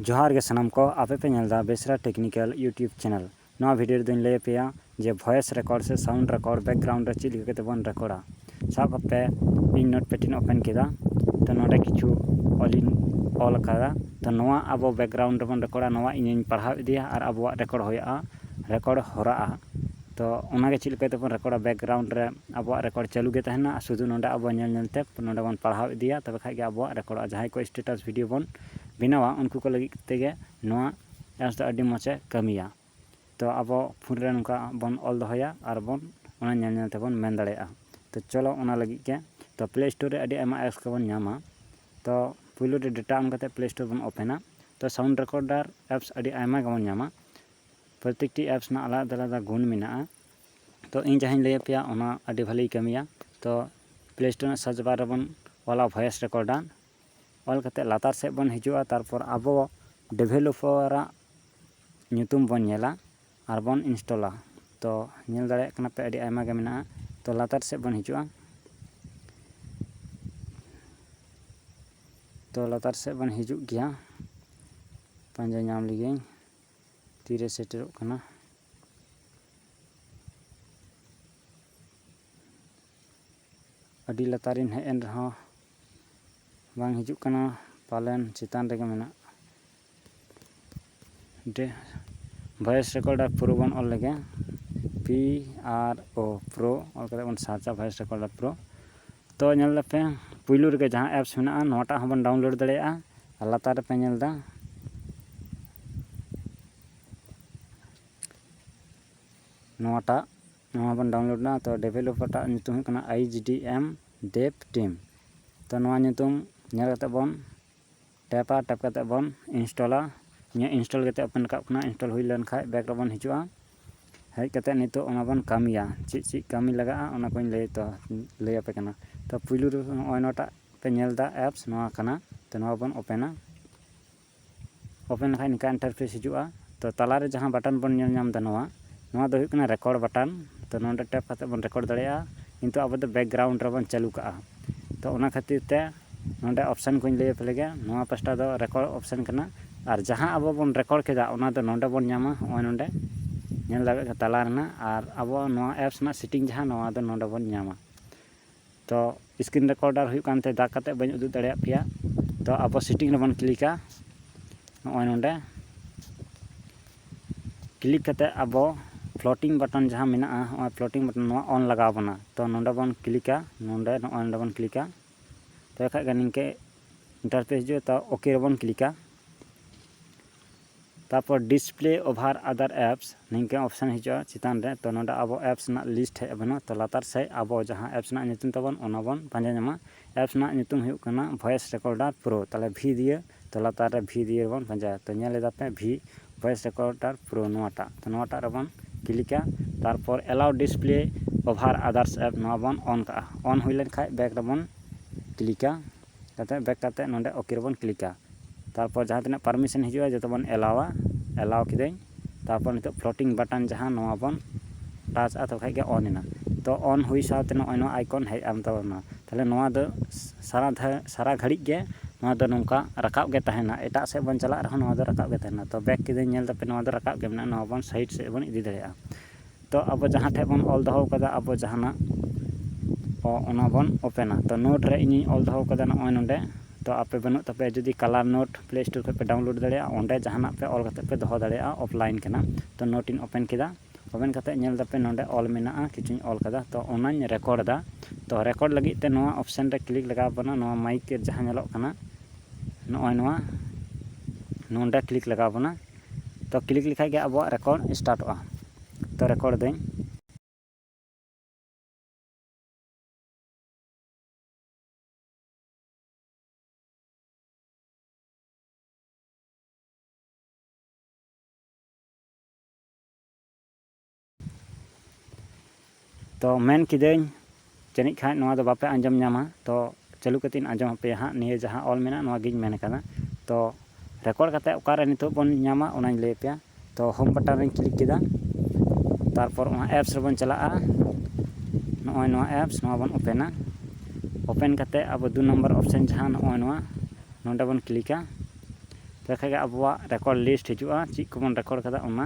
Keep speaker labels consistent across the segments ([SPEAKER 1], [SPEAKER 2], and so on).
[SPEAKER 1] ᱡᱚᱦᱟᱨ ᱜᱮ ᱥᱟᱱᱟᱢ ᱠᱚ ᱟᱯᱮ ᱯᱮ ᱧᱮᱞ ᱫᱟ ᱵᱮᱥᱨᱟ ᱴᱮᱠᱱᱤᱠᱮᱞ ᱭᱩᱴᱭᱩᱵᱽ ᱪᱮᱱᱮᱞ ᱱᱚᱣᱟ ᱵᱷᱤᱰᱤᱭᱳ ᱨᱮᱫᱚᱧ ᱞᱟᱹᱭ ᱟᱯᱮᱭᱟ ᱡᱮ ᱵᱷᱚᱭᱮᱥ ᱨᱮᱠᱚᱨᱰ ᱥᱮ ᱥᱟᱣᱩᱱᱰ ᱨᱮᱠᱚᱨᱰ ᱵᱮᱠᱜᱨᱟᱣᱩᱱᱰ ᱨᱮ ᱪᱮᱫ ᱞᱮᱠᱟ ᱠᱟᱛᱮ ᱵᱚᱱ ᱨᱮᱠᱚᱨᱰᱟ ᱥᱟᱵ ᱠᱟᱜ ᱯᱮ ᱤᱧ ᱱᱳᱴ ᱯᱮᱰ ᱤᱧ ᱳᱯᱮᱱ ᱠᱮᱫᱟ ᱛᱚ ᱱᱚᱰᱮ ᱠᱤᱪᱷᱩ ᱚᱞᱤᱧ ᱚᱞ ᱟᱠᱟᱫᱟ ᱛᱚ ᱱᱚᱣᱟ ᱟᱵᱚ ᱵᱮᱠᱜᱨᱟᱣᱩᱱᱰ ᱨᱮᱵᱚᱱ ᱨᱮᱠᱚᱨᱰᱟ ᱱᱚᱣᱟ ᱤᱧᱤᱧ ᱯᱟᱲᱦᱟᱣ ᱤᱫᱤᱭᱟ ᱟᱨ ᱟᱵᱚᱣᱟᱜ ᱨᱮᱠᱚᱨᱰ ᱦᱩᱭᱩᱜᱼᱟ ᱨᱮᱠᱚᱨᱰ ᱦᱚᱨᱟᱜᱼᱟ ᱛᱚ ᱚᱱᱟᱜᱮ ᱪᱮᱫ ᱞᱮᱠᱟ ᱛᱮᱵᱚᱱ ᱨᱮᱠᱚᱨᱰᱟ ᱵᱮᱠᱜᱨᱟᱣᱩᱱᱰ ᱨᱮ ᱟᱵᱚᱣᱟᱜ ᱨᱮᱠᱚᱨᱰ ᱪᱟᱹᱞᱩ ᱜᱮ ᱛᱟᱦᱮᱱᱟ ᱟᱨ ᱥᱩᱫᱩ ᱱᱚᱰᱮ ᱟᱵᱚ ᱧᱮᱞ ᱧᱮᱞ ᱛᱮ ᱱᱚᱰᱮ ᱵᱚᱱ ᱯᱟᱲᱦᱟᱣ ᱤᱫᱤᱭᱟ ᱛᱚᱵᱮ ᱠᱷᱟᱱ ᱜᱮ ᱟᱵᱚᱣᱟᱜ ᱨᱮᱠᱚᱨᱰᱚᱜᱼᱟ ᱡᱟᱦᱟᱸᱭ ᱠᱚ ᱥᱴᱮᱴᱟᱥ ᱵᱷᱤᱰᱭᱳ ᱵᱚᱱ ᱵᱮᱱᱟᱣᱟ ᱩᱱᱠᱩ ᱠᱚ ᱞᱟᱹᱜᱤᱫ ᱛᱮᱜᱮ ᱱᱚᱣᱟ ᱮᱯᱥ ᱫᱚ ᱟᱹᱰᱤ ᱢᱚᱡᱽ ᱮ ᱠᱟᱹᱢᱤᱭᱟ ᱛᱚ ᱟᱵᱚ ᱯᱷᱳᱱ ᱨᱮ ᱱᱚᱝᱠᱟ ᱵᱚᱱ ᱚᱞ ᱫᱚᱦᱚᱭᱟ ᱟᱨ ᱵᱚᱱ ᱚᱱᱟ ᱧᱮᱞ ᱧᱮᱞ ᱛᱮᱵᱚᱱ ᱢᱮᱱ ᱫᱟᱲᱮᱭᱟᱜᱼᱟ ᱛᱚ ᱪᱚᱞᱚ ᱚᱱᱟ ᱞᱟᱹᱜᱤᱫ ᱜᱮ ᱛᱚ ᱯᱞᱮ ᱥᱴᱳᱨ ᱨᱮ ᱟᱹᱰᱤ ᱟᱭᱢᱟ ᱮᱯᱥ ᱠᱚᱵᱚᱱ ᱧᱟᱢᱟ ᱛᱚ ᱯᱳᱭᱞᱳ ᱨᱮ ᱰᱮᱴᱟ ᱚᱱ ᱠᱟᱛᱮᱫ ᱯᱞᱮ ᱥᱴᱳᱨ ᱵᱚᱱ ᱳᱯᱮᱱᱟ ᱛᱚ ᱥᱟᱣᱩᱱᱰ ᱨᱮᱠᱳᱰᱟᱨ ᱮᱯᱥ ᱟᱹᱰᱤ ᱟᱭᱢᱟ ᱜᱮᱵᱚᱱ ᱧᱟᱢᱟ ᱯᱨᱚᱛᱮᱠᱴᱤ ᱮᱯᱥ ᱨᱮᱱᱟᱜ ᱟᱞᱟᱫᱟ ᱟᱞᱟᱫᱟ ᱜᱩᱱ ᱢᱮᱱᱟᱜᱼᱟ ᱛᱚ ᱤᱧ ᱡᱟᱦᱟᱸᱧ ᱞᱟᱹᱭ ᱟᱯᱮᱭᱟ ᱚᱱᱟ ᱟᱹᱰᱤ ᱵᱷᱟᱹᱞᱤᱭ ᱠᱟᱹᱢᱤᱭᱟ ᱛᱚ ᱯᱞᱮ ᱥᱴᱳᱨ ᱨᱮᱱᱟᱜ ᱥᱟᱨᱪ ᱵᱟᱨ ᱨᱮᱵᱚᱱ ᱚᱞᱟ ᱵᱷᱚᱭᱮᱥ ᱨᱮᱠᱚᱨᱰᱟᱨ ᱚᱞ ᱠᱟᱛᱮ ᱞᱟᱛᱟᱨ ᱥᱮᱫ ᱵᱚᱱ ᱦᱤᱡᱩᱜᱼᱟ ᱛᱟᱨᱯᱚᱨ ᱟᱵᱚ ᱰᱮᱵᱷᱮᱞᱚᱯᱟᱨᱟᱜ ᱧᱩᱛᱩᱢ ᱵᱚᱱ ᱧᱮᱞᱟ ᱟᱨ ᱵᱚᱱ ᱤᱱᱥᱴᱚᱞᱟ ᱛᱚ ᱧᱮᱞ ᱫᱟᱲᱮᱭᱟᱜ ᱠᱟᱱᱟ ᱯᱮ ᱟᱹᱰᱤ ᱟᱭᱢᱟ ᱜᱮ ᱢᱮᱱᱟᱜᱼᱟ ᱛᱚ ᱞᱟᱛᱟᱨ ᱥᱮᱫ ᱵᱚᱱ ᱦᱤᱡᱩᱜᱼᱟ ᱛᱚ ᱞᱟᱛᱟᱨ ᱥᱮᱫ ᱵᱚᱱ ᱦᱤᱡᱩᱜ ᱜᱮᱭᱟ ᱯᱟᱸᱡᱟ ᱧᱟᱢ ᱞᱮᱜᱤᱧ ᱛᱤᱨᱮ ᱥᱮᱴᱮᱨᱚᱜ ᱠᱟᱱᱟ ᱟᱹᱰᱤ ᱞᱟᱛᱟᱨᱤᱧ ᱦᱮᱡ ᱮᱱ ᱨᱮᱦᱚᱸ ᱵᱟᱝ ᱦᱤᱡᱩᱜ ᱠᱟᱱᱟ ᱯᱟᱞᱮᱱ ᱪᱮᱛᱟᱱ ᱨᱮᱜᱮ ᱢᱮᱱᱟᱜ ᱰᱮ ᱵᱷᱚᱭᱮᱥ ᱨᱮᱠᱚᱨᱰ ᱟᱨ ᱯᱨᱳ ᱵᱚᱱ ᱚᱞ ᱞᱮᱜᱮ ᱯᱤ ᱟᱨ ᱳ ᱯᱨᱳ ᱚᱞ ᱠᱟᱛᱮ ᱵᱚᱱ ᱥᱟᱨᱪᱟ ᱵᱷᱚᱭᱮᱥ ᱨᱮᱠᱚᱨᱰ ᱟᱨ ᱯᱨᱳ ᱛᱚ ᱧᱮᱞ ᱞᱮᱯᱮ ᱯᱩᱭᱞᱩ ᱨᱮᱜᱮ ᱡᱟᱦᱟᱸ ᱮᱯᱥ ᱢᱮᱱᱟᱜᱼᱟ ᱱᱚᱣᱟᱴᱟᱜ ᱦᱚᱸᱵᱚᱱ ᱰᱟᱣᱩᱱᱞᱳᱰ ᱫᱟᱲᱮᱭᱟᱜᱼᱟ ᱟᱨ ᱞᱟᱛᱟᱨ ᱨᱮᱯᱮ ᱧᱮᱞ ᱮᱫᱟ ᱱᱚᱣᱟᱴᱟᱜ ᱱᱚᱣᱟ ᱵᱚᱱ ᱰᱟᱣᱩᱱᱞᱳᱰ ᱮᱫᱟ ᱛᱚ ᱰᱮᱵᱷᱮᱞᱚᱯᱟᱨ ᱴᱟᱜ ᱧᱩᱛᱩᱢ ᱦᱩᱭᱩᱜ ᱠᱟᱱᱟ ᱟᱭᱤᱪ ᱰᱤ ᱮᱢ ᱰᱮᱯ ᱴᱤᱢ ᱛᱚ ᱱᱚᱣᱟ ᱧᱩᱛᱩᱢ ᱧᱮᱞ ᱠᱟᱛᱮ ᱵᱚᱱ ᱴᱮᱯᱟ ᱴᱮᱯ ᱠᱟᱛᱮ ᱵᱚᱱ ᱤᱱᱥᱴᱚᱞᱟ ᱤᱧᱟᱹᱜ ᱤᱱᱥᱴᱚᱞ ᱠᱟᱛᱮ ᱳᱯᱮᱱ ᱨᱟᱠᱟᱵ ᱠᱟᱱᱟ ᱤᱱᱥᱴᱚᱞ ᱦᱩᱭ ᱞᱮᱱᱠᱷᱟᱡ ᱵᱮᱠ ᱨᱮᱵᱚᱱ ᱦᱤᱡᱩᱜᱼᱟ ᱦᱮᱡ ᱠᱟᱛᱮ ᱱᱤᱛᱚᱜ ᱚᱱᱟ ᱵᱚᱱ ᱠᱟᱹᱢᱤᱭᱟ ᱪᱮᱫ ᱪᱮᱫ ᱠᱟᱹᱢᱤ ᱞᱟᱜᱟᱜᱼᱟ ᱚᱱᱟ ᱠᱚᱧ ᱞᱟᱹᱭ ᱛᱚ ᱞᱟᱹᱭ ᱟᱯᱮ ᱠᱟᱱᱟ ᱛᱚ ᱯᱩᱭᱞᱩ ᱨᱮ ᱱᱚᱜᱼᱚᱭ ᱱᱚᱣᱟᱴᱟᱜ ᱯᱮ ᱧᱮᱞ ᱮᱫᱟ ᱮᱯᱥ ᱱᱚᱣᱟ ᱠᱟᱱᱟ ᱛᱚ ᱱᱚᱣᱟ ᱵᱚᱱ ᱳᱯᱮᱱᱟ ᱳᱯᱮᱱ ᱞᱮᱠᱷᱟᱡ ᱱᱤᱝᱠᱟ ᱤᱱᱴᱟᱨᱯᱷᱮᱥ ᱦᱤᱡᱩᱜᱼᱟ ᱛᱚ ᱛᱟᱞᱟᱨᱮ ᱡᱟᱦᱟᱸ ᱵᱟᱴᱚᱱ ᱵᱚᱱ ᱧᱮᱞ ᱧᱟᱢ ᱮᱫᱟ ᱱᱚᱣᱟ ᱱᱚᱣᱟ ᱫᱚ ᱦᱩᱭᱩᱜ ᱠᱟᱱᱟ ᱨᱮᱠᱚᱨᱰ ᱵᱟᱴᱚᱱ ᱛᱚ ᱱᱚᱰᱮ ᱴᱮᱯ ᱠᱟᱛᱮ ᱵᱚᱱ ᱨᱮᱠᱚᱨᱰ ᱫᱟᱲᱮᱭᱟᱜᱼᱟ ᱠᱤᱱᱛᱩ ᱟᱵᱚ ᱫᱚ ᱵᱮᱠᱜᱨᱟᱣᱩᱱᱰ ᱨᱮᱵᱚᱱ ᱪᱟᱹᱞᱩ ᱠᱟᱜᱼᱟ ᱛᱚ ᱚᱱᱟ ᱠᱷᱟᱹᱛᱤᱨ ᱛᱮ ᱱᱚᱰᱮ ᱚᱯᱥᱮᱱ ᱠᱚᱧ ᱞᱟᱹᱭ ᱟᱯᱮ ᱞᱮᱜᱮ ᱱᱚᱣᱟ ᱯᱟᱥᱴᱟ ᱫᱚ ᱨᱮᱠᱚᱨᱰ ᱚᱯᱥᱮᱱ ᱠᱟᱱᱟ ᱟᱨ ᱡᱟᱦᱟᱸ ᱟᱵᱚ ᱵᱚᱱ ᱨᱮᱠᱚᱨᱰ ᱠᱮᱫᱟ ᱚᱱᱟ ᱫᱚ ᱱᱚᱰᱮ ᱵᱚᱱ ᱧᱟᱢᱟ ᱱᱚᱜᱼᱚᱭ ᱱᱚᱰᱮ ᱧᱮᱞ ᱫᱟᱲᱮᱭᱟᱜ ᱠᱟᱱᱟ ᱛᱟᱞᱟ ᱨᱮᱱᱟᱜ ᱟᱨ ᱟᱵᱚ ᱱᱚᱣᱟ ᱮᱯᱥ ᱨᱮᱱᱟᱜ ᱥᱮᱴᱤᱝ ᱡᱟᱦᱟᱸ ᱱᱚᱣᱟ ᱫᱚ ᱱᱚᱰᱮ ᱵᱚᱱ ᱧᱟᱢᱟ ᱛᱚ ᱥᱠᱨᱤᱱ ᱨᱮᱠᱚᱨᱰᱟᱨ ᱦᱩᱭᱩᱜ ᱠᱟᱱ ᱛᱮ ᱫᱟᱜᱽ ᱠᱟᱛᱮ ᱵᱟᱹᱧ ᱩᱫᱩᱜ ᱫᱟᱲᱮᱭᱟᱜ ᱯᱮᱭᱟ ᱛᱚ ᱟᱵᱚ ᱥᱮᱴᱤᱝ ᱨᱮᱵᱚᱱ ᱠᱞᱤᱠᱟ ᱱᱚᱜᱼᱚᱭ ᱱᱚᱰᱮ ᱠᱞᱤᱠ ᱠᱟᱛᱮ ᱟᱵᱚ ᱯᱷᱞᱚᱴᱤᱝ ᱵᱟᱴᱚᱱ ᱡᱟᱦᱟᱸ ᱢᱮᱱᱟᱜᱼᱟ ᱱᱚᱜᱼᱚᱭ ᱯᱷᱞᱚᱴᱤᱝ ᱵᱟᱴᱚᱱ ᱱᱚᱣᱟ ᱚᱱ ᱞᱟᱜᱟᱣ ᱵᱚᱱᱟ ᱛᱚ ᱱᱚᱰᱮ ᱵᱚᱱ ᱠᱞᱤᱠᱟ ᱱᱚᱰᱮ ᱱᱚᱜᱼᱚᱭ ᱱᱚᱰᱮ ᱵᱚᱱ ᱠᱞᱤᱠᱟ ᱛᱚᱵᱮ ᱠᱷᱟᱡ ᱜᱮ ᱱᱤᱝᱠᱟᱹ ᱤᱱᱴᱟᱨᱯᱷᱮᱥ ᱦᱤᱡᱩᱜᱼᱟ ᱛᱟᱣ ᱳᱠᱮ ᱨᱮᱵᱚᱱ ᱠᱞᱤᱠᱟ ᱛᱟᱨᱯᱚᱨ ᱰᱤᱥᱯᱞᱮ ᱳᱵᱷᱟᱨ ᱟᱫᱟᱨ ᱮᱯᱥ ᱱᱤᱝᱠᱟᱹ ᱚᱯᱥᱮᱱ ᱦᱤᱡᱩᱜᱼᱟ ᱪᱮᱛᱟᱱ ᱨᱮ ᱛᱚ ᱱᱚᱰᱮ ᱟᱵᱚ ᱮᱯᱥ ᱨᱮᱱᱟᱜ ᱞᱤᱥᱴ ᱦᱮᱡ ᱟᱵᱚᱱᱟ ᱛᱚ ᱞᱟᱛᱟᱨ ᱥᱮᱡ ᱟᱵᱚ ᱡᱟᱦᱟᱸ ᱮᱯᱥ ᱨᱮᱱᱟᱜ ᱧᱩᱛᱩᱢ ᱛᱟᱵᱚᱱ ᱚᱱᱟ ᱵᱚᱱ ᱯᱟᱸᱡᱟ ᱧᱟᱢᱟ ᱮᱯᱥ ᱨᱮᱱᱟᱜ ᱧᱩᱛᱩᱢ ᱦᱩᱭᱩᱜ ᱠᱟᱱᱟ ᱵᱷᱚᱭᱮᱥ ᱨᱮᱠᱳᱰᱟᱨ ᱯᱨᱳ ᱛᱟᱦᱚᱞᱮ ᱵᱷᱤ ᱫᱤᱭᱮ ᱛᱚ ᱞᱟᱛᱟᱨ ᱨᱮ ᱵᱷᱤ ᱫᱤᱭᱮ ᱵᱚᱱ ᱯᱟᱸᱡᱟᱭᱟ ᱛᱚ ᱧᱮᱞ ᱮᱫᱟ ᱯᱮ ᱵᱷᱤ ᱵᱷᱚᱭᱮᱥ ᱨᱮᱠᱚᱨᱰᱟᱨ ᱯᱨᱳ ᱱᱚᱣᱟᱴᱟᱜ ᱛᱚ ᱱᱚᱣᱟᱴᱟᱜ ᱨᱮᱵᱚᱱ ᱠᱞᱤᱠᱟ ᱛᱟᱨᱯᱚᱨ allow display over others app ᱱᱚᱣᱟ ᱵᱚᱱ ᱚᱱ ᱠᱟᱜᱼᱟ ᱚᱱ ᱦᱩᱭ ᱞᱮᱱ ᱠᱷᱟᱡ ᱵᱮᱠ ᱨᱮᱵᱚᱱ ᱠᱞᱤᱠᱟ ᱠᱟᱛᱮ ᱵᱮᱠ ᱠᱟᱛᱮ ᱱᱚᱰᱮ ᱳᱠᱮ ᱨᱮᱵᱚᱱ ᱠᱞᱤᱠᱟ ᱛᱟᱨᱯᱚᱨ ᱡᱟᱦᱟᱸ ᱛᱤᱱᱟᱹᱜ ᱯᱟᱨᱢᱤᱥᱮᱱ ᱦᱤᱡᱩᱜᱼᱟ ᱡᱚᱛᱚ ᱵᱚᱱ ᱮᱞᱟᱣᱟ ᱮᱞᱟᱣ ᱠᱤᱫᱟᱹᱧ ᱛᱟᱨᱯᱚᱨ ᱱᱤᱛᱚᱜ ᱯᱷᱞᱳᱴᱤᱝ ᱵᱟᱴᱚᱱ ᱡᱟᱦᱟᱸ ᱱᱚᱣᱟ ᱵᱚᱱ ᱴᱟᱪ ᱟᱫᱚ ᱠᱷᱟᱱ ᱜᱮ ᱚᱱ ᱮᱱᱟ ᱛᱚ ᱚᱱ ᱦᱩᱭ ᱥᱟᱶᱛᱮ ᱱᱚᱜᱼᱚᱭ ᱱᱚᱣᱟ ᱟᱭᱠᱚᱱ ᱦᱮᱡ ᱮᱱ ᱛᱟᱵᱚᱱᱟ ᱛᱟᱦᱚᱞᱮ ᱱᱚᱣᱟ ᱫᱚ ᱥᱟᱨᱟ ᱫᱷᱟᱣ ᱥᱟᱨᱟ ᱜᱷᱟᱹᱲᱤᱡ ᱜᱮ ᱱᱚᱣᱟ ᱫᱚ ᱱᱚᱝᱠᱟ ᱨᱟᱠᱟᱵ ᱜᱮ ᱛᱟᱦᱮᱱᱟ ᱮᱴᱟᱜ ᱥᱮᱫ ᱵᱚᱱ ᱪᱟᱞᱟᱜ ᱨᱮᱦᱚᱸ ᱱᱚᱣᱟ ᱫᱚ ᱨᱟᱠᱟᱵ ᱜᱮ ᱛᱟᱦᱮᱱᱟ ᱛᱚ ᱵᱮᱠ ᱠᱤᱫᱟᱹᱧ ᱧᱮᱞ ᱫᱟᱯᱮ ᱱᱚᱣᱟ ᱫᱚ ᱨᱟᱠᱟᱵ ᱜᱮ ᱢᱮᱱᱟᱜᱼᱟ ᱱᱚᱣᱟ ᱵᱚᱱ ᱥᱟᱭᱤᱰ ᱥᱮᱫ ᱵᱚᱱ ᱤᱫᱤ ᱫᱟᱲᱮᱭᱟᱜᱼᱟ ᱛᱚ ᱟᱵᱚ ᱡᱟᱦᱟᱸ ᱴᱷᱮᱱ ᱵᱚᱱ ᱚᱞ ᱫᱚᱦᱚ ᱟᱠᱟᱫᱟ ᱟᱵᱚ ᱡᱟᱦᱟᱱᱟᱜ ᱚᱱᱟ ᱵᱚᱱ ᱳᱯᱮᱱᱟ ᱛᱚ ᱱᱳᱴ ᱨᱮ ᱤᱧᱤᱧ ᱚᱞ ᱫᱚᱦᱚ ᱟᱠᱟᱫᱟ ᱱᱚᱜᱼᱚᱭ ᱱᱚᱰᱮ ᱛᱚ ᱟᱯᱮ ᱵᱟᱹᱱᱩᱜ ᱛᱟᱯᱮᱭᱟ ᱡᱩᱫᱤ ᱠᱟᱞᱟᱨ ᱱᱳᱴ ᱯᱞᱮ ᱥᱴᱳᱨ ᱠᱷᱚᱱ ᱯᱮ ᱰᱟᱣᱩᱱᱞᱳᱰ ᱫᱟᱲᱮᱭᱟᱜᱼᱟ ᱚᱸᱰᱮ ᱡᱟᱦᱟᱱᱟᱜ ᱯᱮ ᱚᱞ ᱠᱟᱛᱮᱫ ᱯᱮ ᱫᱚᱦᱚ ᱫᱟᱲᱮᱭᱟᱜᱼᱟ ᱚᱯᱷᱞᱟᱭᱤᱱ ᱠᱟᱱᱟ ᱛᱚ ᱱᱳᱴ ᱤᱧ ᱳᱯᱮᱱ ᱠᱮᱫᱟ ᱳᱯᱮᱱ ᱠᱟᱛᱮᱫ ᱧᱮᱞ ᱮᱫᱟᱯᱮ ᱱᱚᱰᱮ ᱚᱞ ᱢᱮᱱᱟᱜᱼᱟ ᱠᱤᱪᱷᱩᱧ ᱚᱞ ᱟᱠᱟᱫᱟ ᱛᱚ ᱚᱱᱟᱧ ᱨᱮᱠᱳᱨᱰ ᱮᱫᱟ ᱛᱚ ᱨᱮᱠᱳᱨᱰ ᱞᱟᱹᱜᱤᱫ ᱛᱮ ᱱᱚᱣᱟ ᱚᱯᱷᱥᱮᱱ ᱨᱮ ᱠᱞᱤᱠ ᱞᱟᱜᱟᱣ ᱟᱵᱚᱱᱟ ᱱᱚᱣᱟ ᱢᱟᱭᱤᱠ ᱡᱟᱦᱟᱸ ᱧᱮᱞᱚᱜ ᱠᱟᱱᱟ ᱱᱚᱜᱼᱚᱭ ᱱᱚᱣᱟ ᱱᱚᱰᱮ ᱠᱞᱤᱠ ᱞᱟᱜᱟᱣ ᱟᱵᱚᱱᱟ ᱛᱚ ᱠᱞᱤᱠ ᱞᱮᱠᱷᱟᱡ ᱜᱮ ᱟᱵᱚᱣᱟᱜ ᱨᱮᱠᱚᱨᱰ ᱥᱴᱟᱨᱴᱚᱜᱼᱟ ᱛᱚ ᱨᱮᱠᱚᱨᱰ ᱫᱟᱹᱧ ᱛᱚ ᱢᱮᱱ ᱠᱤᱫᱟᱹᱧ ᱡᱟᱹᱱᱤᱡ ᱠᱷᱟᱱ ᱱᱚᱣᱟ ᱫᱚ ᱵᱟᱯᱮ ᱟᱸᱡᱚᱢ ᱧᱟᱢᱟ ᱛᱚ ᱪᱟᱹᱞᱩ ᱠᱟᱛᱮᱧ ᱟᱸᱡᱚᱢ ᱟᱯᱮᱭᱟ ᱦᱟᱸᱜ ᱱᱤᱭᱟᱹ ᱡᱟᱦᱟᱸ ᱚᱞ ᱢᱮᱱᱟᱜᱼᱟ ᱱᱚᱣᱟ ᱜᱤᱧ ᱢᱮᱱ ᱟᱠᱟᱫᱟ ᱛᱚ ᱨᱮᱠᱚᱨᱰ ᱠᱟᱛᱮ ᱚᱠᱟᱨᱮ ᱱᱤᱛᱚᱜ ᱵᱚᱱ ᱧᱟᱢᱟ ᱚᱱᱟᱧ ᱞᱟᱹᱭ ᱟᱯᱮᱭᱟ ᱛᱚ ᱦᱳᱢ ᱵᱟᱴᱟᱱ ᱨᱤᱧ ᱠᱞᱤᱠ ᱠᱮᱫᱟ ᱛᱟᱨᱯᱚᱨ ᱚᱱᱟ ᱮᱯᱥ ᱨᱮᱵᱚᱱ ᱪᱟᱞᱟᱜᱼᱟ ᱱᱚᱜᱼᱚᱭ ᱱᱚᱣᱟ ᱮᱯᱥ ᱱᱚᱣᱟ ᱵᱚᱱ ᱳᱯᱮᱱᱟ ᱳᱯᱮᱱ ᱠᱟᱛᱮ ᱟᱵᱚ ᱫᱩ ᱱᱚᱢᱵᱚᱨ ᱚᱯᱥᱮᱱ ᱡᱟᱦᱟᱸ ᱱᱚᱜᱼᱚᱭ ᱱᱚᱣᱟ ᱱᱚᱰᱮ ᱵᱚᱱ ᱠᱞᱤᱠᱟ ᱛᱚᱵᱮ ᱠᱷᱟᱱ ᱜᱮ ᱟᱵᱚᱣᱟᱜ ᱨᱮᱠᱚᱨᱰ ᱞᱤᱥᱴ ᱦᱤᱡᱩᱜᱼᱟ ᱪᱮᱫ ᱠᱚᱵᱚᱱ ᱨᱮᱠᱚᱨᱰ ᱟᱠᱟᱫᱟ ᱚᱱᱟ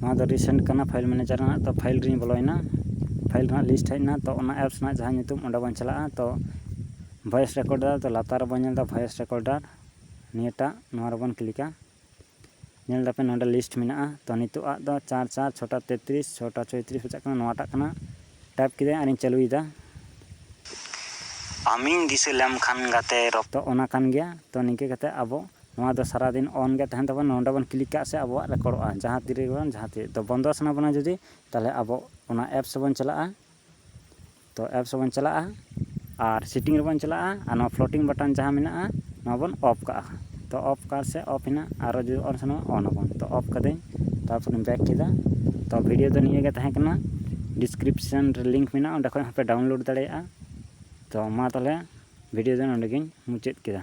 [SPEAKER 1] ᱱᱚᱣᱟ ᱫᱚ ᱨᱤᱥᱮᱱᱴ ᱠᱟᱱᱟ ᱯᱷᱟᱭᱤᱞ ᱢᱮᱱᱮᱡᱟᱨ ᱨᱮᱱᱟᱜ ᱛᱚ ᱯᱷᱟᱭᱤᱞ ᱨᱮᱧ ᱵᱚᱞᱚᱭᱮᱱᱟ ᱯᱷᱟᱭᱤᱞ ᱨᱮᱱᱟᱜ ᱞᱤᱥᱴ ᱦᱮᱡ ᱮᱱᱟ ᱛᱚ ᱚᱱᱟ ᱮᱯᱥ ᱨᱮᱱᱟᱜ ᱡᱟᱦᱟᱸ ᱧᱩᱛᱩᱢ ᱚᱸᱰᱮ ᱵᱚᱱ ᱪᱟᱞᱟᱜᱼᱟ ᱛᱚ ᱵᱷᱚᱭᱮᱥ ᱨᱮᱠᱚᱨᱰᱟᱨ ᱛᱚ ᱞᱟᱛᱟᱨ ᱨᱮᱵᱚᱱ ᱧᱮᱞ ᱮᱫᱟ ᱵᱷᱚᱭᱮᱥ ᱨᱮᱠᱚᱨᱰᱟᱨ ᱱᱤᱭᱟᱹᱴᱟᱜ ᱱᱚᱣᱟ ᱨᱮᱵᱚᱱ ᱠᱞᱤᱠᱟ ᱧᱮᱞ ᱫᱟᱯᱮ ᱱᱚᱰᱮ ᱞᱤᱥᱴ ᱢᱮᱱᱟᱜᱼᱟ ᱛᱚ ᱱᱤᱛᱚᱜ ᱟᱜ ᱫᱚ ᱪᱟᱨ ᱪᱟᱨ ᱪᱷᱚᱴᱟ ᱛᱮᱛᱨᱤᱥ ᱪᱷᱚᱴᱟ ᱪᱚᱭᱛᱨᱤᱥ ᱵᱟᱡᱟᱜ ᱠᱟᱱᱟ ᱱᱚᱣᱟᱴᱟᱜ ᱠᱟᱱᱟ ᱴᱟᱭᱤᱯ ᱠᱮᱫᱟᱹᱧ ᱟᱨᱤᱧ ᱪᱟᱹᱞᱩᱭᱮᱫᱟ ᱟᱢᱤᱧ ᱫᱤᱥᱟᱹ ᱞᱮᱢ ᱠᱷᱟᱱ ᱜᱟᱛᱮ ᱨᱚᱯᱚᱲ ᱛᱚ ᱚᱱᱟ ᱠᱟᱱ ᱜᱮᱭᱟ ᱛᱚ ᱱᱤᱝᱠᱟᱹ ᱠᱟᱛᱮ ᱟᱵᱚ ᱱᱚᱣᱟ ᱫᱚ ᱥᱟᱨᱟ ᱫᱤᱱ ᱚᱱ ᱜᱮ ᱛᱟᱦᱮᱱ ᱛᱟᱵᱚᱱᱟ ᱱᱚᱰᱮ ᱵᱚᱱ ᱠᱞᱤᱠ ᱠᱟᱜ ᱥᱮ ᱟᱵᱚᱣᱟᱜ ᱨᱮᱠᱚᱨᱰᱚᱜᱼᱟ ᱡᱟᱦᱟᱸ ᱛᱤᱨᱮ ᱵᱟᱝ ᱡᱟᱦᱟᱸ ᱛᱤᱨᱮ ᱛᱚ ᱵᱚᱱᱫᱚ ᱥᱟᱱᱟ ᱵᱚᱱᱟ ᱡᱩᱫᱤ ᱛᱟᱦᱚᱞᱮ ᱟᱵᱚ ᱚᱱᱟ ᱮᱯᱥ ᱨᱮᱵᱚᱱ ᱪᱟᱞᱟᱜᱼᱟ ᱛᱚ ᱮᱯᱥ ᱨᱮᱵᱚᱱ ᱪᱟᱞᱟᱜᱼᱟ ᱟᱨ ᱥᱮᱴᱤᱝ ᱨᱮᱵᱚᱱ ᱪᱟᱞᱟᱜᱼᱟ ᱟᱨ ᱱᱚᱣᱟ ᱯᱷᱞᱳᱴᱤᱝ ᱵᱟᱴᱚᱱ ᱡᱟᱦᱟᱸ ᱢᱮᱱᱟᱜᱼᱟ ᱱᱚᱣᱟ ᱵᱚᱱ ᱚᱯᱷ ᱠᱟᱜᱼᱟ ᱛᱚ ᱚᱯᱷ ᱠᱟᱜᱼᱟ ᱥᱮ ᱚᱯᱷ ᱮᱱᱟ ᱟᱨᱚ ᱡᱩᱫᱤ ᱚᱱ ᱥᱟᱱᱟ ᱵᱚᱱᱟ ᱚᱱ ᱟᱵᱚᱱ ᱛᱚ ᱚᱯᱷ ᱠᱟᱹᱫᱟᱹᱧ ᱛᱟᱨᱯᱚᱨᱮᱧ ᱵᱮᱠ ᱠᱮᱫᱟ ᱛᱚ ᱵᱷᱤᱰᱤᱭᱳ ᱫᱚ ᱱᱤᱭᱟᱹᱜᱮ ᱛᱟᱦᱮᱸ ᱠᱟᱱᱟ ᱰᱤᱥᱠᱨᱤᱯᱥᱮᱱ ᱨᱮ ᱞᱤᱝᱠ ᱢᱮᱱᱟᱜᱼᱟ ᱚᱸᱰᱮ ᱠᱷᱚᱱ ᱦᱚᱸᱯᱮ ᱰᱟᱣᱩᱱᱞᱳᱰ ᱫᱟᱲᱮᱭᱟᱜᱼᱟ ᱛᱚ ᱢᱟ ᱛᱟᱦᱚᱞᱮ ᱵᱷᱤᱰᱤᱭᱳ ᱫᱚ ᱱᱚᱰᱮᱜᱮᱧ ᱢᱩᱪᱟᱹᱫ ᱠᱮᱫᱟ